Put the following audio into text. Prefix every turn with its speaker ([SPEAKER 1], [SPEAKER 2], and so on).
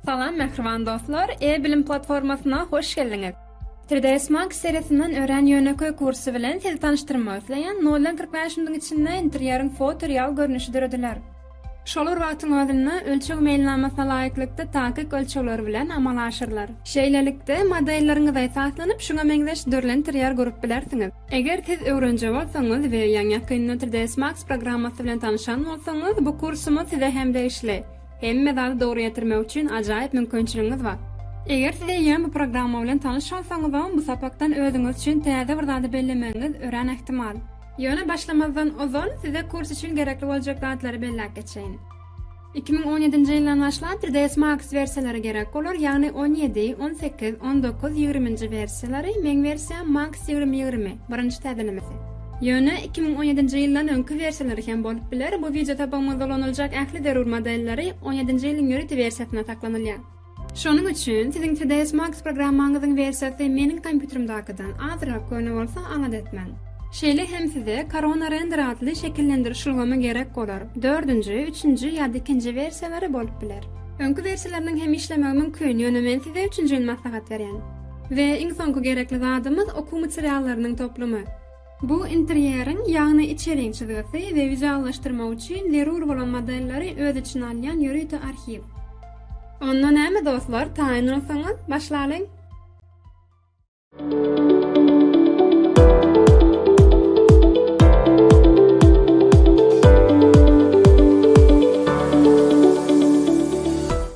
[SPEAKER 1] Salam mähriban dostlar, e-bilim platformasyna hoş geldiňiz. 3ds Max serisinden örän ýönekeý kursy bilen sizi tanyşdyrmak isleýän, noldan kyrk bäş minutiň içinde interýeriň foto real görnüşi dörediler. Şolar wagtyň özünde ölçeg meýilnamasy laýyklykda takyk ölçegler bilen amala aşyrylar. Şeýlelikde, modelleriňize esaslanyp, şuňa meňzeş dürli interýer gurup bilersiňiz. Eger siz öwrenje bolsaňyz we ýaňy-ýakynda 3ds Max programmasy bilen tanyşan bolsaňyz, bu kursumyz size hem degişli. Hemme zady dogry ýetirmek üçin ajaýyp mümkinçiligiňiz bar. Eger siz eýýäm bu programma bilen tanyş bolsaňyzam, bu sapakdan özüňiz üçin täze bir zady bellemegiňiz örän ähtimal. Ýöne başlamazdan ozal size kurs üçin gerekli boljak zatlary belläp geçeýin. Iki müň on ýedinji ýyldan başlap TDS Max wersiýalary gerek bolar, ýagny on ýedi, on sekiz, on dokuz, ýigriminji wersiýalary, meň wersiýam Max ýigrimi ýigrimi, birinji täzelemesi. Ýöne iki müň on ýedinji ýyldan öňki wersiýalary hem bolup biler, bu wideotopagymyzda ulanyljak ähli zerur modelleri on ýedinji ýylyň ýörite wersiýasynda saklanylýar. Şonuň üçin siziň CDS Max programmaňyzyň wersiýasy meniň kompýuterimdakydan azrak göni bolsa aňyt etmäň. Şeýle hem size Corona Render atly şekillendiriş ulgamy gerek bolar, dördünji, üçünji ýa-da ikinji wersiýalary bolup biler. Öňki wersiýalarynyň hem işlemegi mümkin, ýöne men size üçünjini maslahat berýän. We iň soňky gerekli zadymyz okuw materiallarynyň toplumy. Bu interýeriň, ýagny içeriň çyzgysy we wizuallaşdyrmak üçin zerur bolan modelleri öz içine alýan ýörite arhiw. Onda näme dostlar, taýyn bolsaňyz, başlalyň!